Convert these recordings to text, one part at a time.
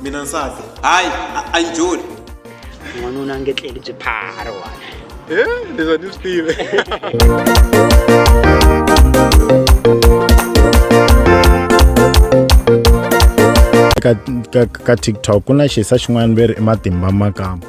mina nsati hayi a- a yi joli n'wanuna a nge tleli byi phara wani leswi a ni swi tivi ka, ka, ka tiktok ku na xisa xin'wana veri i matimba makamba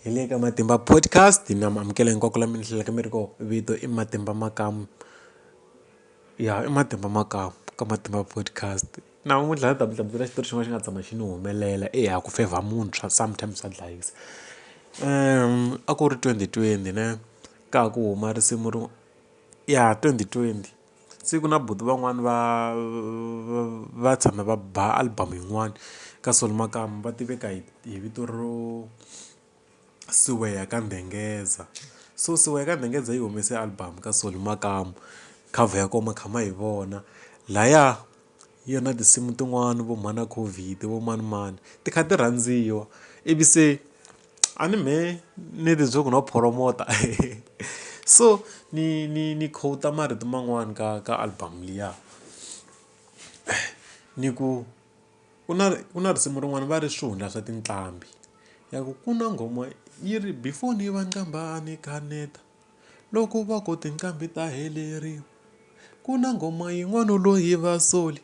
hi le ka matimba podcast mi amukela hinkwako la mi ni hlelaka mi ri ko vito i matimba makamu ya i matimba makamu ka matimba podcast namuntlha ni ta mi hlamusela xitori xin'wana xi nga tshama xi ni humelela eya ku fevha munhu swa sometimes swa dlayisa a ku ri twenty twenty ne ka ha ku huma risimu ro ya twenty twenty. Se ku na buti van'wani va va va tshame va ba album yin'wani ka Solly Makamu va tiveka hi hi vito ro Siweya ka Ndengeza so Siweya ka Ndengeza yi humese album ka Solly Makamu cover ya kona ma kha ma yi vona laya yi na tinsimu tin'wani vo mhana COVID vo manimani ti kha ti rhandziwa ivi se. A ni mhe ni ri byo ku no phoromota so ni ni ni quote marito man'wani ka ka album liya ni ku ku na ku na risimu rin'wana va ri swihundla swa tinqambi ya ku ku na nghoma yi ri before ni va qambha a ni kaneta loko va ku tinqambi ta heleriwa ku na nghoma yin'wana loyi va soli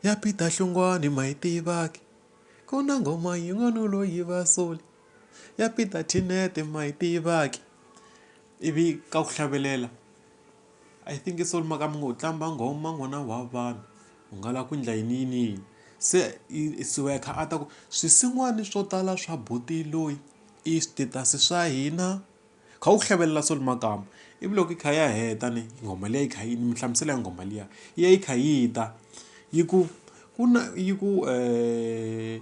ya Peter hlongwane ma yi tivaka. Ku na nghoma yin'wana u lo yi va sole ya Peter Tinete ma yi tivaki ivi ka ku hlavelela I think i solo maka mi ngo tlamba nghoma n'wana wa vanhu u nga la ku endla yini yini yini se siya kha a ta ku swisin'wana swo tala swa buti loyi i status swa hina. kha u hlavelela so makamba ivi loko yi kha ya heta ni nghoma liya yi kha yi mi hlamusela ya nghoma liya yi ya yi kha yi ta yi ku ku na yi ku um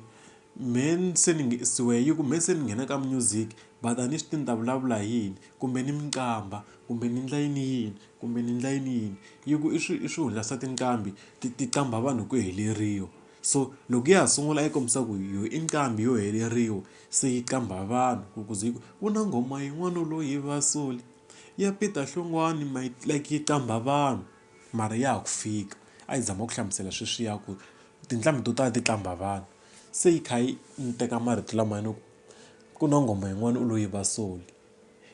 mheni se ni siwe yi ku mheni se ni nghena ka music but a ni swi ti ni ta vulavula hi yini kumbe ni mi qambha kumbe ni endla yini yini kumbe ni endla yini yini yi ku i swi i swi hungasa tinqambi ti ti qambha vanhu hi ku heleriwa so loko ya ha sungula yi kombisa ku yo i nqambi yo heleriwa Se yi qambha vanhu ku ku ze yi ku, ku na nghoma yin'wana u lo yiva soli ya Peter Hlongwane ma yi like yi qambha vanhu mara ya ha ku fika a yi zama ku hlamusela sweswiya ku tinqambi to tala ti qambha vanhu se yi kha yi ni teka marito lamayani ku ku na nghoma yin'wana u lo yiva soli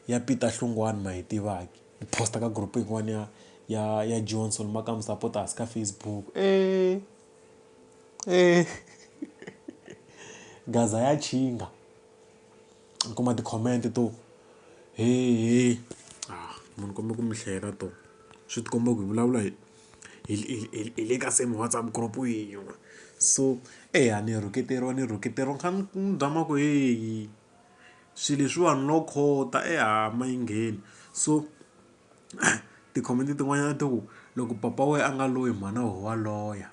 ya Peter Hlongwane ma yi tivaki ni post ka group yin'wana ya ya ya Johnson maka mi sapota hansi ka Facebook . E gaza ya chinga ni kuma ti-comment to hehe haa munhu u kombela ku mi hlayela to swi ti komba ku hi vulavula hi hi hi hi hi le ka same WhatsApp group yin'we so eyi a ni rhuketeriwa ni rhuketeriwa ni kha ni ni zama ku heyi swilo leswiwani no khota e ha ma yi ngheni so. Tikhomiti tin'wanyana ti ku, loko papa wena a nga loyi mhana wena wa loya.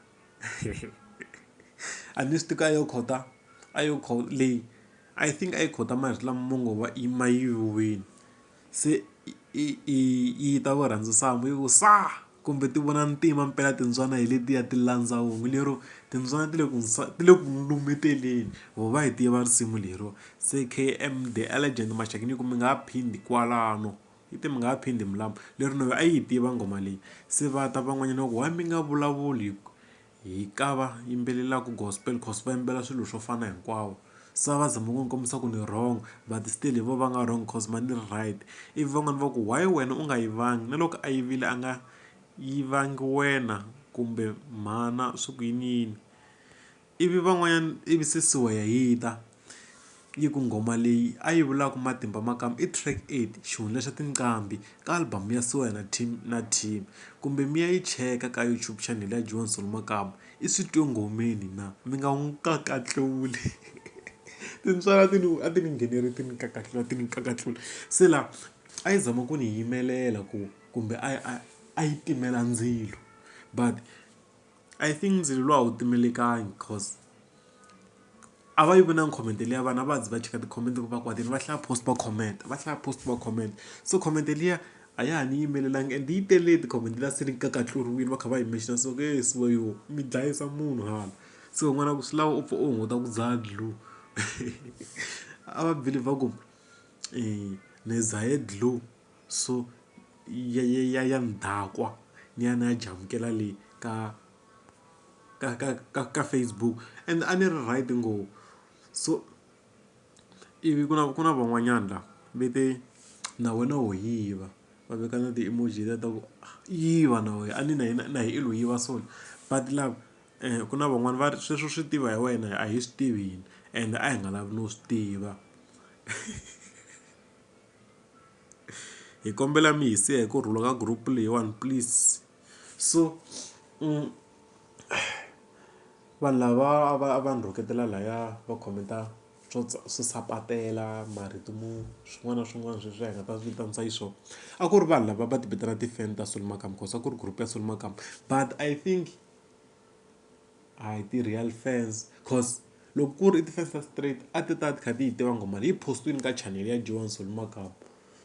A ni swi tivi ku a yo quote-a, a yo leyi I think a yi quote-a marito lama ma ngo va ma yiviwile. Se i i yi ta ku rhandza sangu yi ku sa! Kumbe ti vona ntima mpela timbyana hi letiya ti landza hungu lero, timbyana ti le ku ti le ku n'wi lumeteleni. Voho va yi tiva risimu leriwa. Se K_M_D legend maxaka ni ku mi nga ha phindi kwalano. Hi te mi nga ha phindi mi lava. Leri Noyi a yi tiva nghoma leyi. Se va ta van'wanyana va ku, why mi nga vulavuli hi ka va yimbelelaka gospel coz va yimbela swilo swo fana hinkwawo. Se a va zama ku ni kombisa ku ni wrong but still hi vona va nga wrong coz mehe ni ri right. Ivi van'wana va ku, why wena u nga yivangi na loko a yivile a nga yivangi wena kumbe mhana swi ku yini yini. Ivi van'wanyana ivi Sisiwe ya yita yi ku nghoma leyi a yi vulaka matimba ma kama i track eight xihundla xa tinqambi ka album ya Siwa na team na team kumbe mi ya yi cheka ka YouTube channel ya Joan Solo Makamu i swi twe nghomeni na mi nga n'wi kakatluli tintswalo ti ni a ti ni nghenele ti ni kakatlula ti ni kakatlula se laha a yi zama ku ni yimelela ku kumbe a yi a yi timela ndzilo but. I think ndzilo luwa a wu timelekangi coz a va yi vi na comment liya vanhu a va zi va cheka ti-comment loko va kwatile va hlaya post va comment va hlaya post va comment so comment liya a ya ha ni yimelelanga and yi tele ti-comment liya se ni nga ka tluriwile va kha va yi mention so nge he swi yi mi dlayisa munhu hala se u vona ku swi lava u pfa u hunguta ku dzaha dlue a va believe ku ni dzahe dlue. So ya ya ya ya ndakwa ni ya ni ya jamukela le ka ka ka ka ka Facebook and a ni ri right ngo so ivi ku na ku na van'wanyana la ve te na wena ho yiva va veka na ti emoji ta ku yiva na wehe a ni na hina na hi i lo yiva so but lava ku na van'wani va ri sweswo swi tiva hi wena a hi swi tivi hina ende a hi nga lavi no swi tiva. hi kombela mi hi siya hi ku rhula ka group leyiwani please so vanhu lava a va a va ni rhuketela laya va comment-a swo swo sapatela marito mo swin'wana na swin'wana sweswi hi nga ta vitanisa hi swona a ku ri vanhu lava va ti vitanaka ti-fan ta Solomon Makambu cause a ku ri group ya Solomon Makambu but I think. A hi ti-real fans coz loko ku ri i ti-fans ta straight a ti ta ti kha ti yi tiva nghoma leyi yi post-iwini ka channel ya Johan Solly Makamu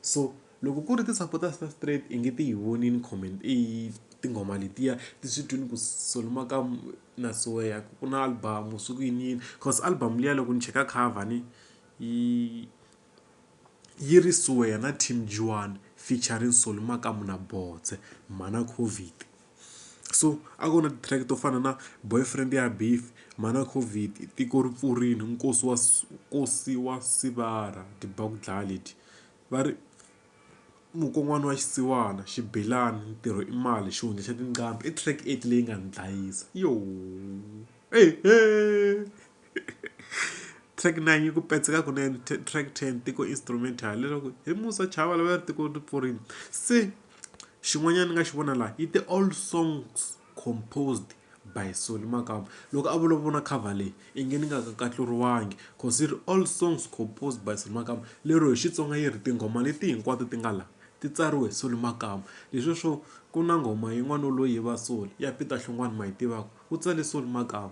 so loko ku ri ti-supporters ta straight i nge ti yi vonile comment i tinghoma letiya ti swi twini ku Solly Makamu na Soweya ku na album so ku yini yini coz album liya loko ni cheka cover ni yi yi ri Soweya na Team Johan featuring Solly Makamu na Boze mhana Covid. so a ku na ti-track to fana na boyfriend ya beef mhana Covid tiko ri pfurile nkosi wa nkosi wa sivara ti ba ku dlaya leti va ri mukon'wana wa xisiwana xibelani ntirho i mali xihundla xa tinqambi i track leyi nga ni dlayisa . track 9 yi ku petseka kunene track 10 tiko instrumental leswaku hi musa chava lava ri tiko ri pfurile se xin'wanyana ni nga xi vona laha yi te all songs composed by soli makamba loko a vulavula cover leyi i nge ni nga ka katluriwangi cause yi ri all songs composed by soli makamba lero hi xitsonga yi ri tinghoma leti hinkwato ti nga laha ti tsariwe hi soli makamba leswi swo ku na nghoma yin'wana loyi va soli ya peter hlongwane ma yi tivaka U tsale Sol Makamu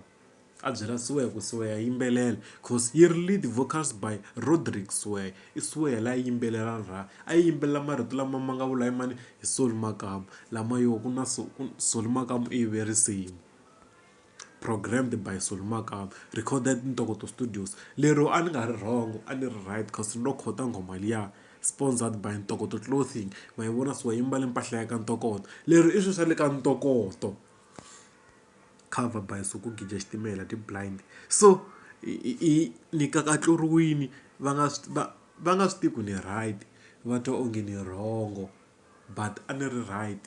a byela Siweya ku Siweya yimbelela cause yi ri lead vocals by Rodrick Siweya i Siweya la yimbelela ra a yi yimbelela marito lama ma nga vula hi mani hi Sol Makamu lama yo ku na so ku Sol Makamu i yive risimu programmed by Sol Makamu recorded Ntokoto studios lero a ni nga ri wrong a ni ri right cause ni lo quote-a nghoma liya sponsored by Ntokoto clothing ma yi vona so yi mbale mpahla ya ka Ntokoto lero i swi swa le ka Ntokoto. cover by nsuku gija xitimela ti-blind so i ni kakatluriwini va nga swi va va nga swi tivi ku ni right va twa onge ni wrong but a ni ri right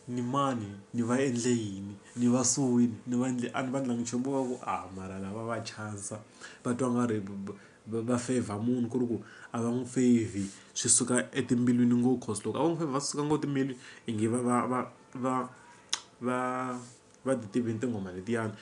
ni mani ni va endle yini ni va suwini ni va endle a ni va endlangi nchumu vo va ku a mara lava va chavisa va twa nga ri va va favor munhu ku ri ku a va n'wi favor swi suka etimbilwini ngo cause loko a vo n'wi favor va suka ngo timbilwini i ngi va va va. va va va ti tivini tinghoma letiyani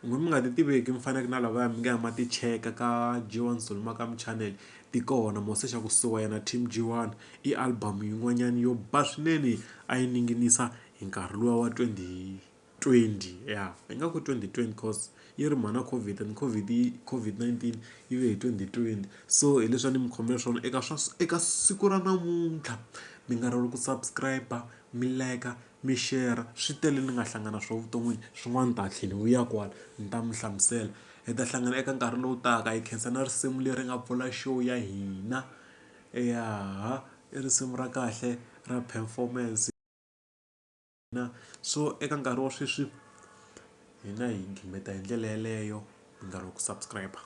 hambi mi nga ti tiveki mi faneke na lavaya mi nga ya ma ti cheka ka G1 Zulu Makamu Channel ti kona mo se xa ku suka yena team G1 i album yin'wanyana yo ba swinene a yi ninginisa hi nkarhi luwa wa twenty. 20 ya ingaku 2020 cause yi ri mhana covid and covid yi covid-19 yi ve hi 2020 so hi leswi a ni mi khomele swona eka swa eka siku ra namuntlha mi nga ri ku subscribe mi like mi share swi tele ni nga hlangana swo vuton'wini swin'wana ni ta tlhela ni vuya kwala ni ta mi hlamusela hi ta hlangana eka nkarhi lowu taka hi khensa na risimu leri nga pfula show ya hina ya i risimu ra kahle ra performance Na so eka nkarhi wa sweswi hina hi gqina hi ndlela yaleyo hi nga ri ku subscribe.